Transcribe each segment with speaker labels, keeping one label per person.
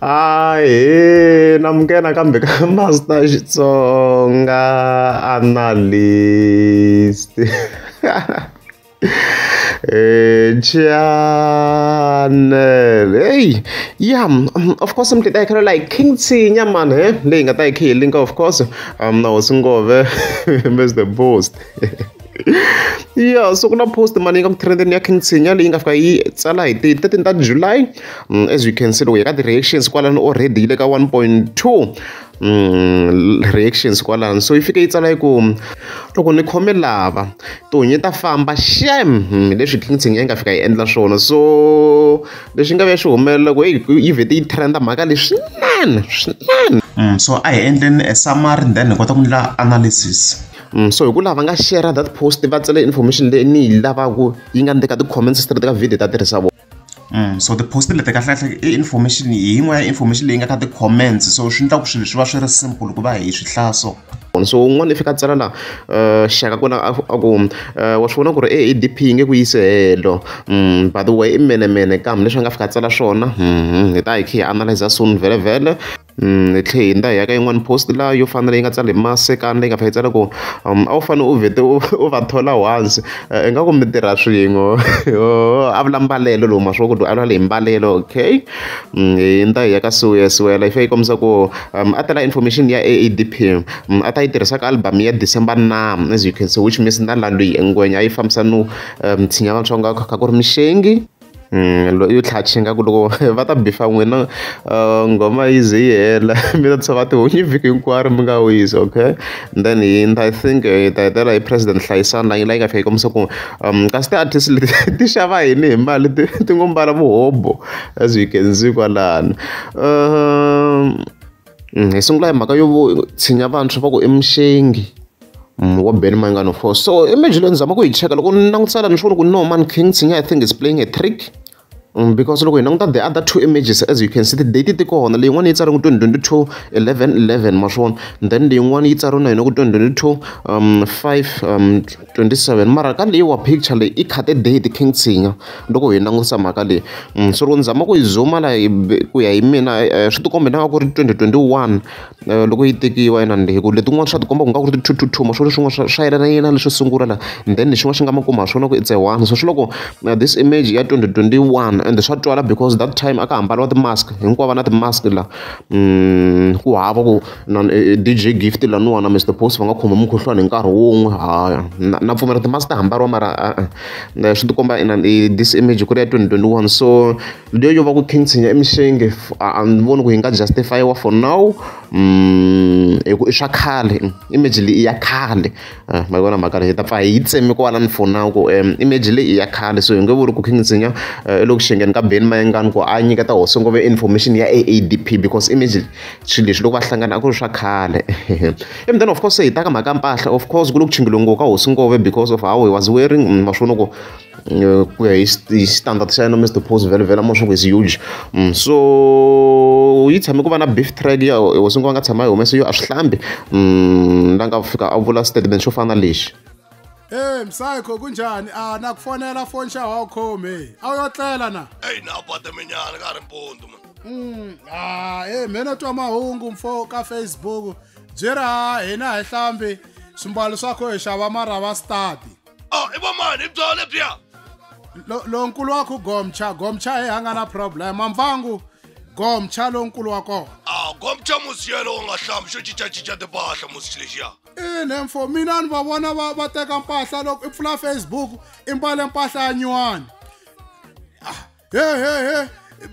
Speaker 1: Ahee namukela kambe ka Master Xitsonga Analyst channel hey yeah um, of course mntu ta khela like king tsinya man he leyi nga ta yi khe yi linka of course um na hosi ngove is the boost ya so ku na post mani ka mutrendeni ya king tshinya leyi nga fika yi tsala hi ti 13 ta july mm, as you can see loko hi ka ti-reactions kwalano already yi le ka 1.2 mm, reactions kwalano so yi fike yi tsala yi ku loko ni khome lava tihunyi ta famba shem mm, leswi king tshinya yi nga fika yi endla swona so leswi nga ve swi humelela ku yi vhete yi trenda mhaka leswi swinene swinene so a hi endleni a summary then hi kota ku endla analysis Mm, so hi ku lava nga share that post va tsele information leyi ni yi lavaka yi nga ni ka ti-comments straight ka video ta tirhisa vona Mm, so ti-post leti kahlekahle i information hi yin'wana ya information leyi nga ka ti-comments so swi endla ku swilo swi va swi ri simple ku va hi swi hlaya so so un'wana i fika a tsala la eh, xaka kona a ku eh, wa swi vona ku ri e dp yi nge ku yise helo mm, by the way i menemene kambe leswi a nga fika a tsala swona mm, hi ta hi khe hi analyza soon vhele vhele hi tlhela hi hundza hi ya ka yin'wani post laha yo fana na leyi nga tsala hi masekana leyi nga fanele yi tsala ku a wu fanele u vhete u u va thola once ingaku mi tirha swin'we yoh a vula mbalelo lowu ma swi vona ku a vula leyi mbalelo okay hi hundza hi ya ka siya siya yi fanele yi kombisa ku a tala information ya A_A_D_P a ta yi tirhisa ka album ya December na as you can see which means na laha loyi ngwenya a yi fambisa no tshinya vatsongo kha ku ri mixengi. yo tlhatlha ingaku loko va ta beef-a n'wina nghoma yi ze yi hela mi ta tshova tihunyi vhiki hinkwaro mi nga wisi okay and then hi ta hi think hi ta hetelela hi president hlayisani laha yi la yi nga fika yi kombisa ku kasi ti-artist leti ti xava yini hi mali ti ti ngo mbala muhobvo as you can see kwalano . Mm, hi sungula hi mhaka yo tshinya vantshwa va ku emuxengi mm, wa ben mangano four so imagine leyi ni zama ku yi cheka loko ni langutisa lani ni swi ku no man king tshinya i think is playing a trick mm, because loko hi languta the other two images as you can see tidate ti kona leyi yin'wana yi tsariwe ku 2022 11 11 ma swi vona then leyin'wana yi tsariwe na yona ku 2022 um 5 um 27 mara ka leyi wa picture leyi i khate date king tshinya loko hi langutisa mhaka leyi mm, so loko ni zama ku yi zuma la ku ya hi mina eh, eh, swi tikomba inanga ku ri 2021 eh, loko yi tekiwa inani hi ku letin'wana swa tikomba ku nga ku ri ti-two-two-two maswona swin'wana swa yelana yena leswo sungula la then lexin'wana xi nga makuma ha swona ku it's a one so swi loko this image ya 2021 and swa twala because that time a ka hambariwa ti-mask hinkwavo na ti-mask la mm, ku hava ku na D_J Gift laniwani na Mister Boss va nga khoma mukhuhlwani hi nkarhi wun'we hawa na na pfumela ti-mask ta hambariwa mara e-e swi ti komba inana i this image ku ri ya twenty twenty one so leyi yo va ku khintsinya i mixenge a ni voni ku yi nga justify-iwa for now hi ku i swa khale image leyi i ya khale ma yi vona mhaka leyi hi ta pfa hi yi tseme kwalano for now ku image leyi i ya khale so hi nge vuli ku khintsinya i le ku xengeni ka Benny Mayengani ku a nyiketa hosi ngopfu information ya A_A_D_P because image. swilo leswi loko va hlangana a ku ri swa khale and then of course hi ta ka mhaka mpahla of course ku le ku chingeliwe ngopfu ka hosi ngove because of how he was wearing mm, ma swi vona ku eh, ku ya hi standard xa yena mr pose vele vele amasho ku is huge mm, so yi tshame ku va na beef track ya hosi ngove a nga tshama yi humese yo a swi hlambi mm, la nga fika a vula statement xo fana na lexi Hey msayikho kunjani? Ah nakufonela phone xa Hawcom hey. Awuyotlela na? Hey na bata minyana ka ri mpundu man. Mm, ah, hey, eh, mhena twa mahungu mfo ka facebook byi ri ha hina hi hlambi swimbalo swakho hi xava marava stadi o oh, i vomani i byona lebyiya lonkulu wa ku gomcha gomcha hi a nga na problem mamvangu gomcha lonkulu wa kona a ah, gomcha musi yelo u nga hlambi xo cincacinca timpahla musi lexiya ine mfo mina ni va vona va va teka mpahla loko i pfula facebook i mbale mpahla ya nyuwani he he he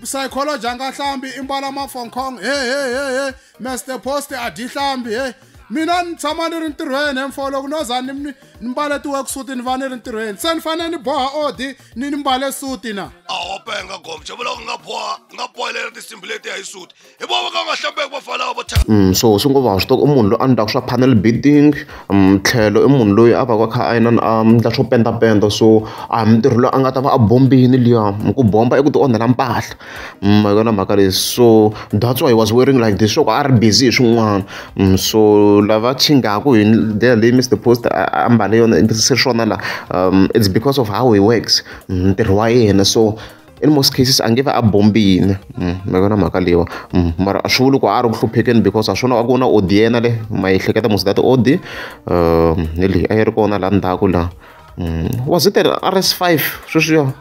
Speaker 1: psychology a nga hlambi i mbala mafonkong he he he he master post a dyi hlambi he mina ni tshama ni ri ntirhweni emfo loko no za ni ni mbale ti-worksuit ni va ni ri ntirhweni se ni fanele ni boha odi ni ni mbale suti na a wo penga gomcha vuloko nga boha nga bohelera tinsimbi letiya hi suti hi vona va ka va nga hlambeki va falawa vo thyaka Mm, so swi ngo va swi tiva i munhu loyi a ndlaka swa panel beating mm, tlhelo i munhu loyi a va ka kha a yena a ndla swo pendapenda so a hi mintirho loyi a nga ta va a bombini liya Mm, ku bomba i ku ti onhela mpahla Mm, hi yona mhaka leyi so that's why he was wearing like this swa ku a ri busy hi swin'wana Mm, so lava chingaku hi ndlela leyi mr post a a mbale yona se swona la um, it's because of how he works Mm, ntirho wa yena so in most cases a nge va a bombile mm, mi vona mhaka leyiwa mm, mara swi vuli ku a ri ku hluphekeni because a swi vona a ku na odi yena le ma yi hleketa mos that odi um ni leyi a yi ri kona laha ndzhaku laha mm, was it rs five sweswiyo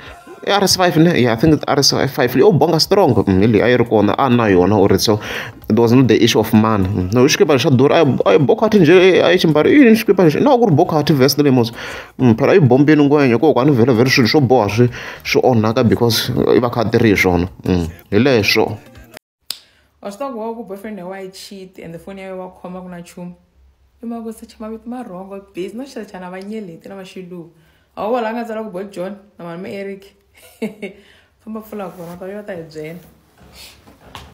Speaker 1: rs five ne yeah i think rs five leyi o bonga strong ni leyi a yi ri kona a na yona or so there was not the issue of money no xikipa xa durha a yi bokhathi njhe a yi ximbari yini xikipa lexi na ku ri bokhathi vest lemos phela yi bombile ngwenya hikokwani vhela vhela swilo swo boha swi swi onhaka because i va kha a tirhi hi swona hi leswo wa swi tiva ku wa ku boyfriend ya wa yi cheat and the foni ya wa khoma ku na nchumu i mhaka ku secha mavito ma rhongo busy no xisechana vanyeleti na vaxiluva a wu wala a nga tsala ku bo john na mani ma eric famba pfula kona ta yo ta hi byela